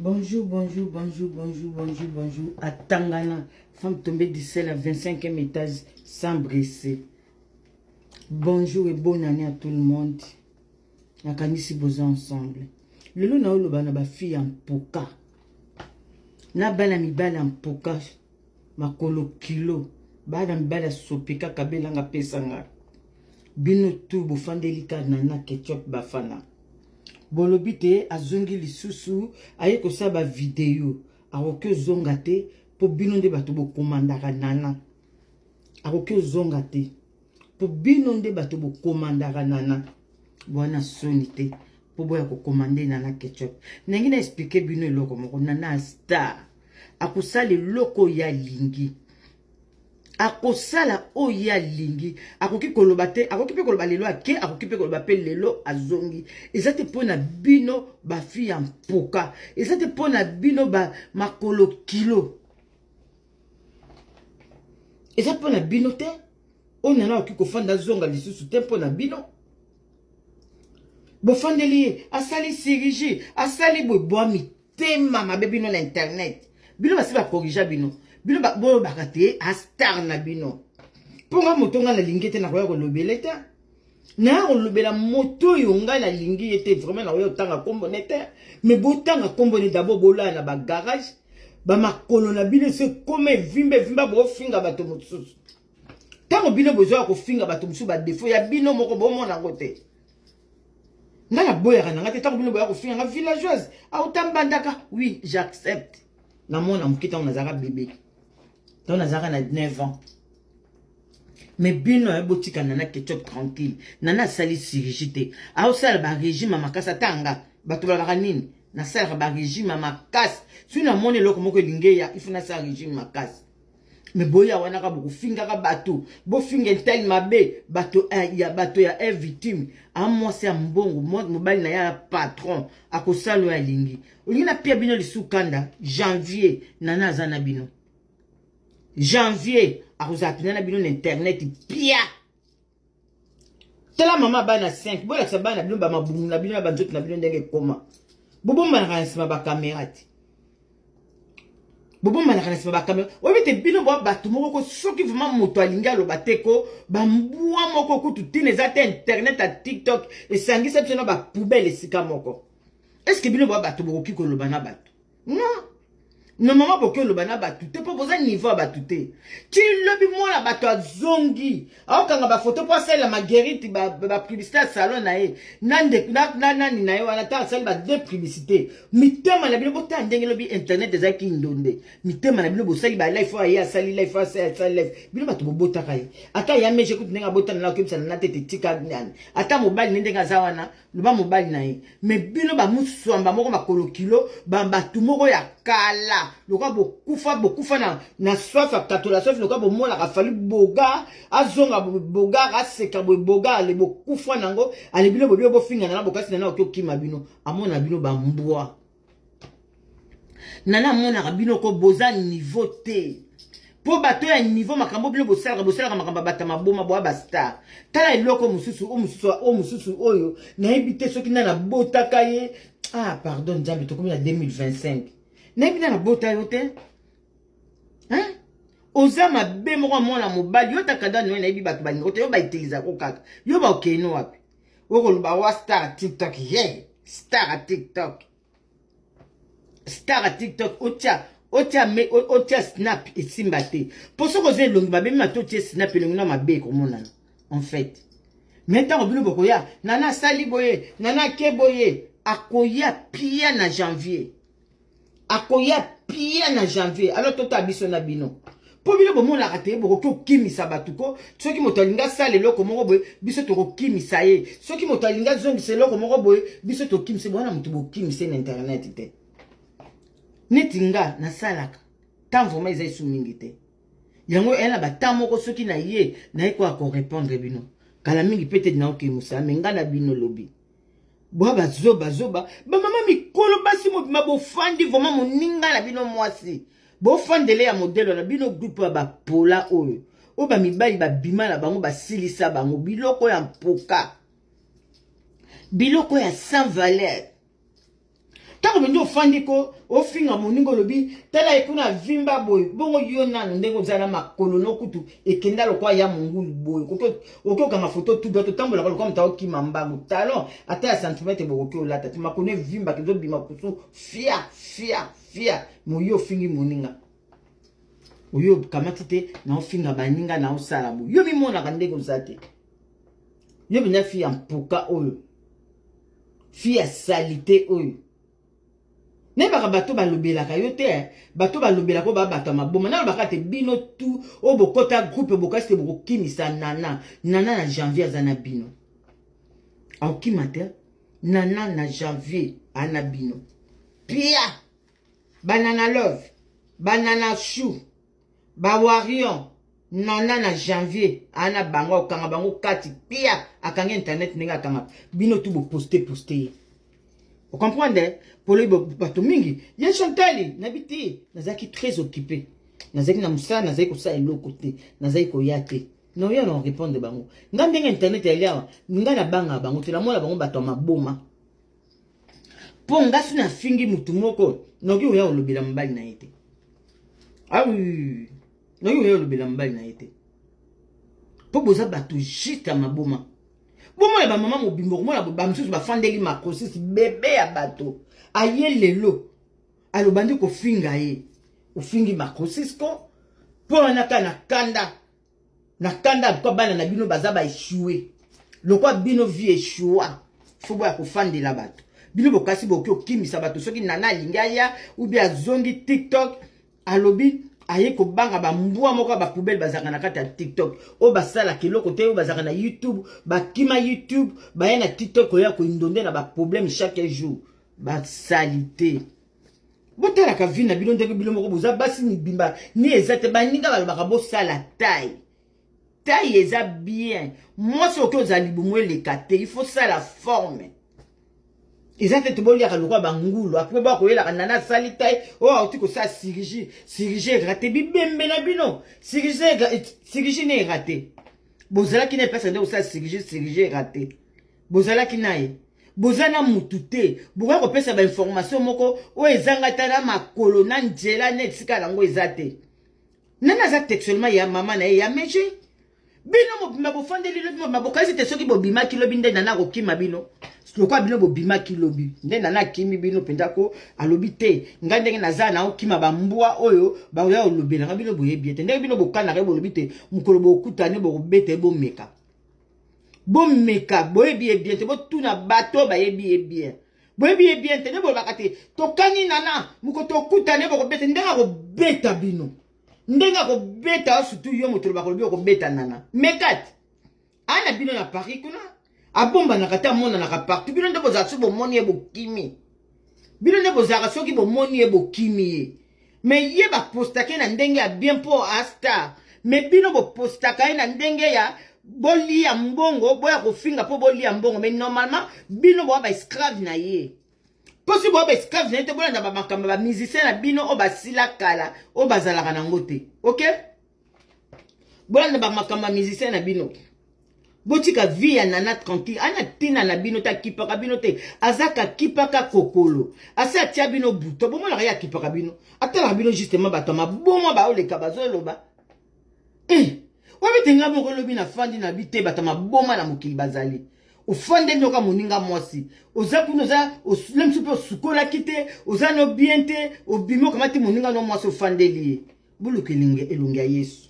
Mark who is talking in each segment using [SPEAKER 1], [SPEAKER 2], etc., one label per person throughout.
[SPEAKER 1] Bonjour, bonjour, bonjour, bonjour, bonjour, bonjour. À Tangana, femme tombée du ciel à 25e étage sans blessé. Bonjour et bonne année à tout le monde. Nakanisi boza ensemble. Lelo na oloba na ba fille en poka. Na bana mibala en poka. makolo kilo bana mibali ya sopi kaka belanga pesa nga bino tu bofandeli ka nana ketchup bafana bolobi te azongi lisusu aye kosala bavideo akoki ozonga te mpo bino nde bato bokomandaka nana akoki ozonga te po bino nde bato bokomandaka nana bwana soni te po boya kokomande nana ketchup ndenge na explike bino eloko moko nana star akosala eloko oyo alingi akosala oyo alingi akoki koloba te akoki mpe koloba lelo ake akoki mpe koloba mpe lelo azongi eza te mpo na bino bafi ya mpoka eza te mpo na bino ba makolo kilo eza mpo na bino te oyo nana okoki kofanda azonga lisusu te mpo na bino bofandeli ye asali sirigi asali boye bwa mitema mabe bino na internet bino basi bakorija bino bino bolobaka te astar na bino mpo nga moto nga nalingi te nakoya kolobele te naye kolobela moto oyo ngai nalingi ye te vraiment nakoya kotanga nkombo ne te me botanga nkombo ne dabord bolaya na bagarage bamakolo na bino esi ekoma evimba evimba bofinga bato mosusu ntango bino bozoya kofinga bato mosusu badefo ya bino moko bomona yango te ngai naboyaka na ngai te ntango bino boya kofinga ngai villageoise auta mbandaka oui j'accepte namona moke ntango nazalaka bebe ntango nazalaka na 9 ans me bino aye botika nana ketchup tranquille nana asali sirigi te aosala barégime ya makasi ata nga bato balaka nini nasalaka barégime ya makasi soki namoni eloko moko elingi eya ifu nasala régime makasi me boya wana ka bokofingaka bato bofinga etali mabe bato eh, ya bato ya e victime amwasi ya mbongo mobali na ye ya patron akosala oyo alingi olingi napia bino lisusu kanda janvier nana aza na bino janvier akozala mpena na bino na internet pia tala mama bana 5 bolakisa bana na bino bamabumu na bino na banzoto na bino ndenge ekoma bobombanaka na nsima bakamera te bobombanaka na nsima bakamera oyebi te bino bwa bato moko ko soki vraimen moto alingi aloba te ko bambwa moko kutu ntina eza te internet ya tiktok esangisa biso na bapoubele esika moko estce bino bwa bato bokoki koloba na bato non normalement boki oloba na bato te mpo boza niveau ya bato te ti lobi mwana bato azongi aokanga bafoto mpo asalela magerite bapublicité ya salon na ye na nani na ye wana ntango asali ba deux publicité mitema na bino botala ndenge lobi internet eza kindonde mitema na bino bosali ba life oyo aye asali life oyo asali life bino bato bobotaka ye ata ya meje kutu ndenge abotana na okebisana na tete tika nani ata mobali ne ndenge aza wana loba mobali na ye me bino bamuswamba moko makolo kilo bato moko ya kala lokola bokufa bokufa na, na swafa katola swafi lokola bomonaka fali boga azonga bogar aseka boye bogar ale bokufa nango ale bino bobio bofingana na bokasi na nao tokima bino amona bino bambwa nana amonaka bino ko boza niveau te mpo bato ya niveau makambo bino bosalaka bosalaka makambo ya bato maboma boya bastar tala eloko mosusu o mosusu o mosusu oyo nayebi te soki nana abotaka ye ah pardon nzambe tokomi na 2025 nayebi nana abota yo te hein? oza mabe moko ya mwana mobali yo takada noye nayebi bato balingo te yo baitilisako kaka yo bakeno wapi okoloba wa star ya tiktok ye star ya tiktok star ya tiktok otya otya me otya snap esimba te mpo soki oza elongi mabe mima to otye snap elongi na mabe ekomonana en fait me ntango bino bokoya nana asali boye nana ake boye akoya pia na janvier akoya pia na janvier alors tota biso na bino mpo bino bomonaka te bokoki kokimisa bato ko soki moto alingi asala eloko moko boye biso tokokimisa ye soki moto alingi azongisa eloko moko boye biso tokimisa ye bwana moto bokimisa ye na internet te neti nga nasalaka ntango vraimen eza esu mingi te yango eya na bata moko soki na ye naye koya korepondre bino kala mingi mpe te naokei mosala me ngai na bino lobi bwa bazoba zoba bamama mikolo basi mobima bofandi vraimen moninga na bino mwasi bofandele ya modelo na bino grupe ya bapola oyo oyo bamibali babima na bango basilisa bango biloko ya mpoka biloko ya sans valeur ntango mpenza ofandi ko ofinga moninga olobi tala ye kuna avimba boye bongo yo nano ndenge ozala na makolo no kutu ekenda lokola ya mongulu boye okoki okanga foto tuba totambolaka lokola moto aokima mbangu talon ata ya santimetre bokoki olata te makolo evimbaka ezobima kutu fia fia fia moyi ofingi moninga oyo okamati te naofinga baninga naosala boye yo mimonaka ndenge oza te yo mpenza fi ya mpoka oyo Fille ya salite oyo. Nayebaka bato balobelaka yo te, eh. bato balobelaka oyo babata maboma. Nalobaka te bino tu oyo bokota groupe bokasi te bokokimisa nana. Nana na janvier aza na bino. Aokima te. Nana na janvier ana bino. Pia! Banana love. Banana chou. ba warion nana na janvier ana bango akokanga bango kati pia akangi internet ndenge akanga bino tu boposte poste ye ocomprendre poloyi bato mingi ye chantali nabi te nazalaki très occupé nazalaki na mosala nazalaki kosala eloko te nazalaki koya te noya na orépondre bango nga ndenge internet yali awa nga nabangaka bango te namona bango bato ya maboma mpo ngasi nafingi motu moko noki oya olobela mobali na ye te awi ah noki oya olobela mobali na ye te mpo boza bato juste ya maboma bomona bamama mobimba okomona bamosusu bafandeli makosis bebe ya bato aye lelo alobandi kofinga ye ofingi makosis ko mpo wana kaka na kanda na kanda alikuwa bana na bino baza ba echouer lokola bino vie echoua fo boya kofandela bato bino bokasi boki okimisa bato soki nana alingi aya ubi azongi tiktok alobi aye kobanga bambwa moko ya bapoubele bazalaka na kati ya tiktok oyo basalaka eloko te oyo bazalaka na youtube bakima youtube baya na tiktok koya koindonde na baproblème chaque jour basalite botalaka vi na bino ndenge bino moko boza basi mibimba ni eza te baninga balobaka bosala tai tai eza bien mwasi oki ozala libumu eleka te il faut sala forme eza te toboliaka lokola bangulu apre boya koyelaka nana asali tai oyo oh, auti kosala sirigi sirigi erate bibembe na bino sirigi ne erate bozalaki na epesa nde kosala sirigi sirigi erate bozalaki na ye boza na mutu te bokoya kopesa bainformation moko oyo ezanga ata na makolo na nzela na esika yango eza te nani aza textuellement ya mama na ye ya meje bino mobimba bofandeli lobi mobimba bokanisi te soki bobimaki lobi nde nana akokima bino lokola bino bobimaki lobi nde nana akimi bino mpenza ko alobi te ngai ndenge naza na okima bambwa oyo bakoya kolobelanga bino boyebi ye te ndenge bino bokanaka ye bolobi te mokolo bokutani bokobeta ye bomeka bomeka boyebi ye bien te botuna bato bayebi ye bien boyebi ye bien te nde bolobaka te tokani nana moko tokutane bokobeta ndenge akobeta bino ndenge akobeta surtout yo moto olobaka olobi okobeta nana mekati ana bino na paris kuna abombanaka te amonanaka partout bino nde bozala so bomoni ye bokimi bino nde bozalaka soki bomoni ye bokimi ye me ye bapostaka ye na ndenge ya bien mpo astar me bino bopostaka ye na ndenge ya bolia mbongo boya kofinga mpo bolia mbongo me normalement bino boya baesclave na ye mpo si boya baesclave na ye te bolanda bamakambo ya bamusicien na bino oyo basila kala oyo bazalaka nango te okay? bolanda bamakambo ya musicien na bino botika vie ya nana tranquille ana ntina na bino te akipaka bino te azaka akipaka kokolo asi atia bino buto bomonaka ye akipaka bino atalaka bino justement bato ya maboma baoleka bazoloba e eh, wapi te ngai moko lobi nafandi na bi te bato ya maboma na mokili bazali ofande nyoka moninga mwasi oza kuna oza lemsi mpe osukolaki te oza no bien te obimi okamati moninga no mwasi ofandeli ye boluka elongi elongi ya yesu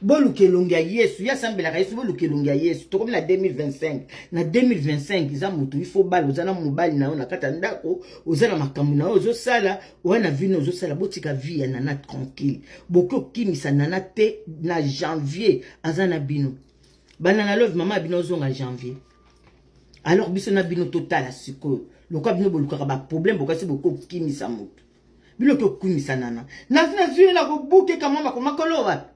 [SPEAKER 1] boluka elongi ya yesu ye asambelaka yesu boluka elongi ya yesu tokomi na 2025 na 2025 eza moto ifo bala oza na mobali na yo na kati ya ndako oza na makambo na yo ozosala oya na vino ozosala botika vie ya nana tranquille boki okimisa nana te na janvier aza na bino bana na love mama ya bino ozonga janvier alors biso na bino totala sikoyo lokola bino bolukaka baproblème bokasi boki okimisa moto bino tokumisa nana nazi nazwi ye na kobukeka mwa makolo makolo wapi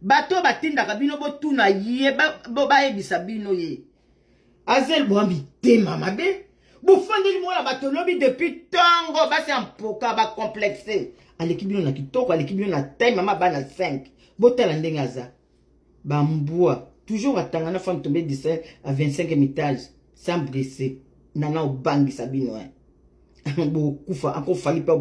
[SPEAKER 1] bato oyo batindaka bino botuna ye bayebisa bino ye azel bwa mitema mabe bofandeli mwana bato lobi depuis ntango basi ya mpoka bacomplexe aleki bino na kitoko aleki bino na tai mama bana 5 botala ndenge aza Ba mbwa. Toujours atanga na femme tombée 17 à 25 étage sans brise. Nana obangisa bino hein. Bokufa ako fali pa